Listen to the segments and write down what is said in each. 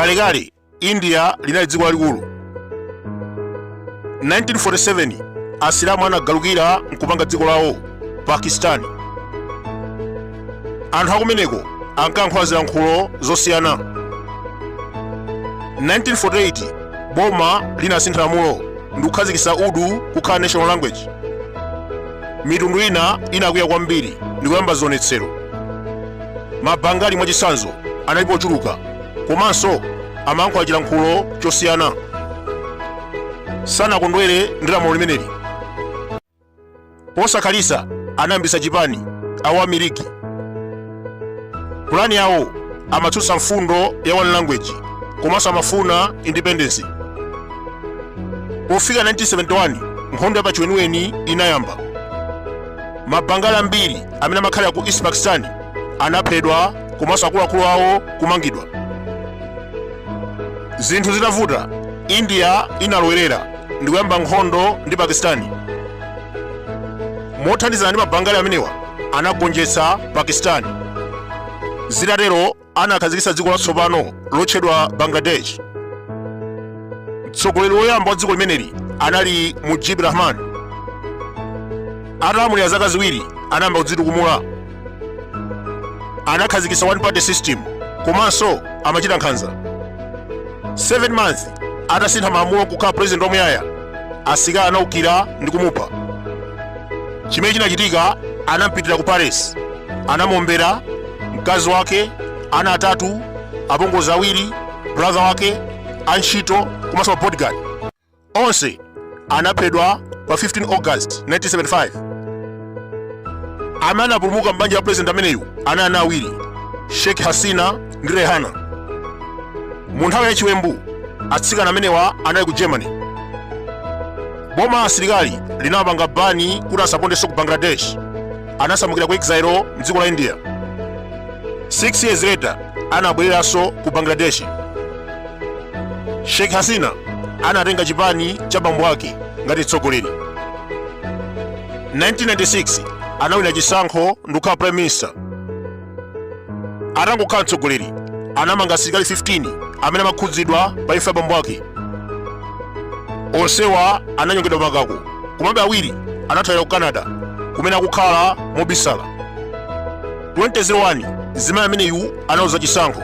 kalekale india linali dziko lalikulu 1947 asilamu anagalukira nkupanga dziko lawo pakistani anthu akumeneko ankayankhula zilankhulo zosiyana 1948 boma linasintha lamulo ndi kukhazikitsa urdu kukhala national language mitundu ina inakwiya kwambiri ndi kuyamba zionetsero mabangali mwachitsanzo analipo ochuluka komanso amayankhula chilankhulo chosiyana sanakondwere ndi lamulo limeneli posakhalitsa anayambitsa chipani awami league pulani yawo amatsutsa mfundo ya one language komanso amafuna independence pofika 1971 nkhondo ya pachiweniweni inayamba mabangali ambiri amene amakhalira ku east pakistan anaphedwa komanso akuluakulu awo kumangidwa zinthu zitavuta india inalowerera ndikuyamba nkhondo ndi pakistani mothandizana ndi mabangali amenewa anagonjetsa pakistani zitatero anakhazikitsa dziko latsopano lotchedwa bangladesh mtsogoleri woyamba wa dziko limeneli anali mujib rahman atalamulira zaka ziwiri anayamba kudzitukumula anakhazikitsa one party system komanso amachita nkhanza 7 month atasintha malamulo nkukhala president wamuyaya asilikali anaukira ndi kumupha chimene chinachitika anampitira ku palace anamuombera mkazi wake ana atatu apongozi awiri brother wake antchito komanso mabodyguard onse anaphedwa pa 15 august 1975 amene anapulumuka m'banja la president ameneyu anali ana awiri sheikh hasina ndi rehana mu nthawi ya chiwembu atsikana amenewa anali ku germany boma la asilikali linawapanga bani kuti asapondenso ku bangladesh anasamukira ku exile mdziko la india 6 years later anabwereranso ku bangladesh sheikh hasina anatenga chipani cha bambo ake ngati mtsogoleri 1996 anawina chisankho ndikukhala prime minister atangokhala mtsogoleri anamanga asilikali 15 amene amakhudzidwa pa imfa ya bambo ake onsewa ananyongedwa pamakako komabe awiri anathawira ku canada kumene akukhala mobisala 2001 mzimayi ameneyu analuza chisankho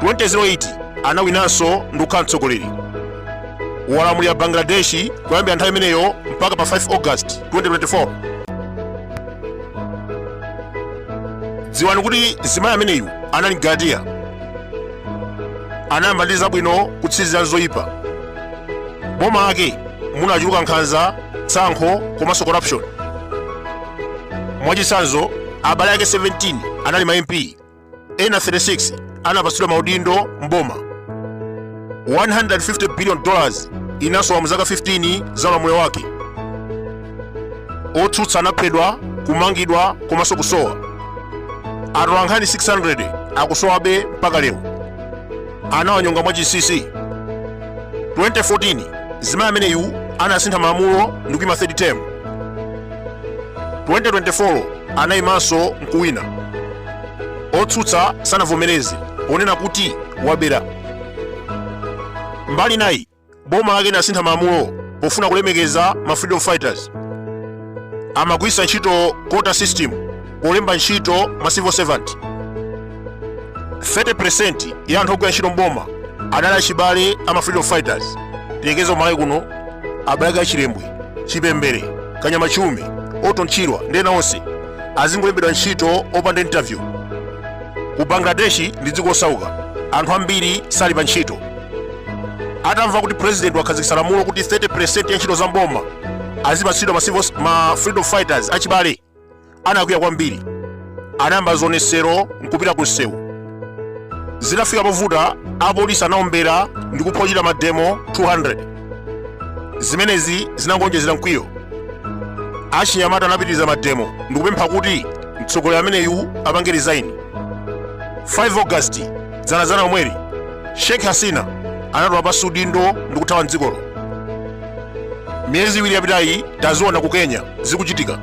2008 anawinanso ndikukhala mtsogoleri walamulira bangladesh kuyambira nthawi imeneyo mpaka pa 5 august 2024 dziwani kuti mzimayi ameneyu anali Mugaratiya anayamba ndi zabwino kutsirizira zoyipa boma lake munachuluka nkhanza tsankho komanso corruption mwachitsanzo abale ake 17 anali ma mp ena 36 anapatsidwa maudindo mboma 150 billion dollars inasowa mu zaka 15 za ulamuliro wake otsutsa anaphedwa kumangidwa komanso kusowa atolankhani 600 akusowabe mpaka lero anawanyonga mwachinsinsi 2014 zimayi ameneyu anasintha malamulo ndi kuima third term 2024 anayimanso nkuwina otsutsa sanavomereze ponena kuti wabera mbali inayi boma lake linasintha malamulo pofuna kulemekeza ma freedom fighters amagwiritsa ntchito quota system polemba ntchito ma civil servant 30% ya anthu ogwira ntchito mboma adali achibale ama freedom fighters tiyerekeze ku malawi kuno abale a chilembwe chipembere kanyama chiume orton chirwa ndi ena onse azingolembedwa ntchito opanda interview ku bangladeshi ndi dziko losauka anthu ambiri sali pa ntchito atamva kuti president wakhazikitsa lamulo kuti 30% ya ntchito za mboma azipatsidwa ma freedom fighters achibale anakwiya kwambiri anayamba zionetsero nkupita ku msewu zinafika povuta apolisi anaombera ndi kupha ochita mademo 200 zimenezi zinangonjezera mkwiyo achinyamata anapitiriza mademo ndikupempha kuti mtsogoleri ameneyu apange resign 5 august dzanadzana lomweli sheikh hasina anatula pansi udindo ndikuthawa mdzikolo miyezi iwiri yapitayi taziona ku kenya zikuchitika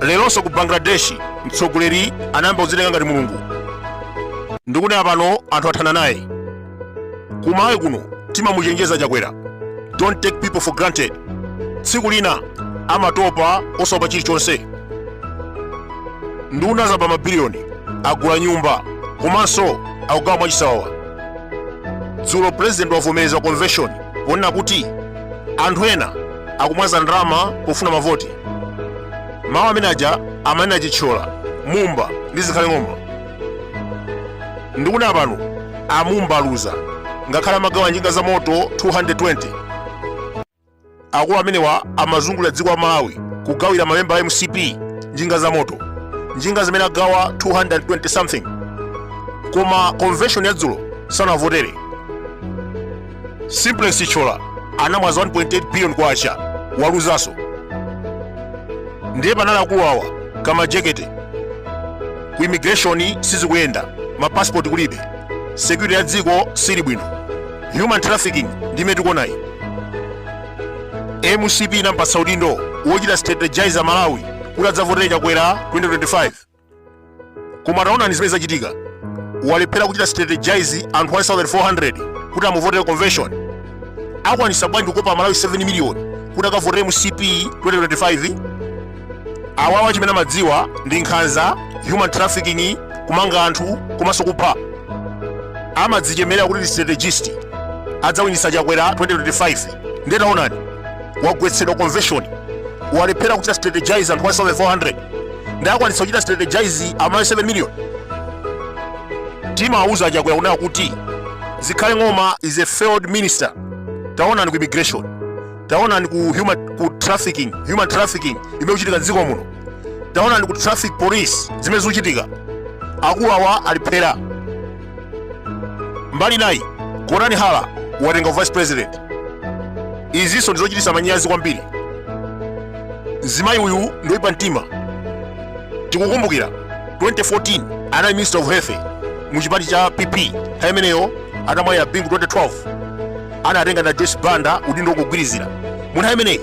leronso ku bangladesh mtsogoleri anayamba kudzitenga ngati mulungu ndikunena pano anthu athana naye ku malawi kuno timamuchenjeza chakwera don't take people for granted tsiku lina amatopa osaopa chilichonse nduna zaba mabiliyoni agula nyumba komanso akugawa mwachisawawa dzulo pulezidenti wavomereza ku convention ponena kuti anthu ena akumwaza ndalama pofuna mavoti mawu amene aja amanena chithyola mumba ndi zikhale ng'oma ndikunena pano amumba aluza ngakhale amagawa njinga za moto 220 akulu amenewa amazungulira dziko la malawi kugawira mamemba a mcp njinga za moto njinga zimene agawa 220 something koma convention yadzulo sanawavotere simplex chithyola anamwaza 1.8 billion kwacha waluzanso ndiye panali akulu awa kamajekete ku immigration sizikuyenda mapasipoti kulibe security ya dziko sili bwino human trafficking ndi imene tikuonayi mcp inampatsa udindo wochita strategize amalawi kuti adzavotere chakwera 2025 koma taonani zimene zachitika walephera kuchita strategize anthu 1400 kuti amuvotere convention akwanisa bwanji kukopa amalawi 7 million kuti akavotere mcp 2025 awawa chimene amadziwa ndi nkhanza human trafficking kumanga anthu komanso kupha amadzichemerera kuti ndi strategist adzawinitsa chakwera 2025 ndiye taonani wagwetsedwa convention walephera kuchita strategize anthu 1400 ndiye akwanitsa kuchita strategize amalawi 7 million timawauza chakwera kunena kuti zikhale ng'oma is a failed minister taonani ku immigration taonani ku human trafficking imene ikuchitika mdziko muno taonani ku traffic police zimene zikuchitika akulu awa alephera mbali inayi gotani hara watenga u vice president izinso ndizochitisa manyazi kwambiri mzimayi uyu ndoyipa mtima tikukumbukira 2014 anali minister of health mu chipani cha pp nthawi imeneyo atamwalira bingu 2012 anatenga na Joyce Banda udindo wongogwirizira. Mu nthawi imeneyi,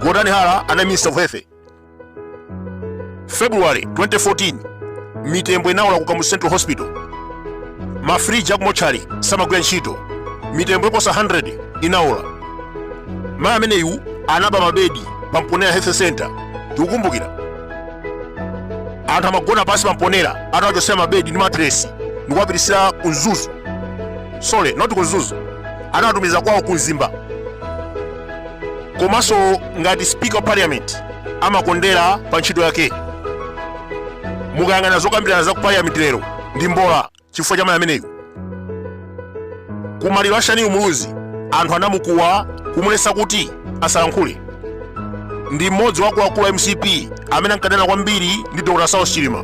Gotani Hara anali Minister of Health. February 2014, mitembo inaola ku Kamuzu Central Hospital. Mafriji akumotchali samagwira ntchito. Mitembo yoposa 100 inaola. Mayi ameneyu anaba mabedi pa Mponela Health Center. Tikukumbukira. Anthu amagona pansi pa Mponela atawachotsera mabedi ndi matresi ndikuwapititsira ku Mzuzu. sorry not ku mzuzu anawatumiza kwawo ku mzimba komanso ngati speaker of parliament amakondera pa ntchito yake mukayang'ana zokambirana za ku parliament lero ndi mbola chifukwa cha mayi ameneyu ku maliro a shanil muluzi anthu anamukuwa kumulesa kuti asalankhule ndi mmodzi wa akuluakulu a mcp amene ankadana kwambiri ndi dr saulos chilima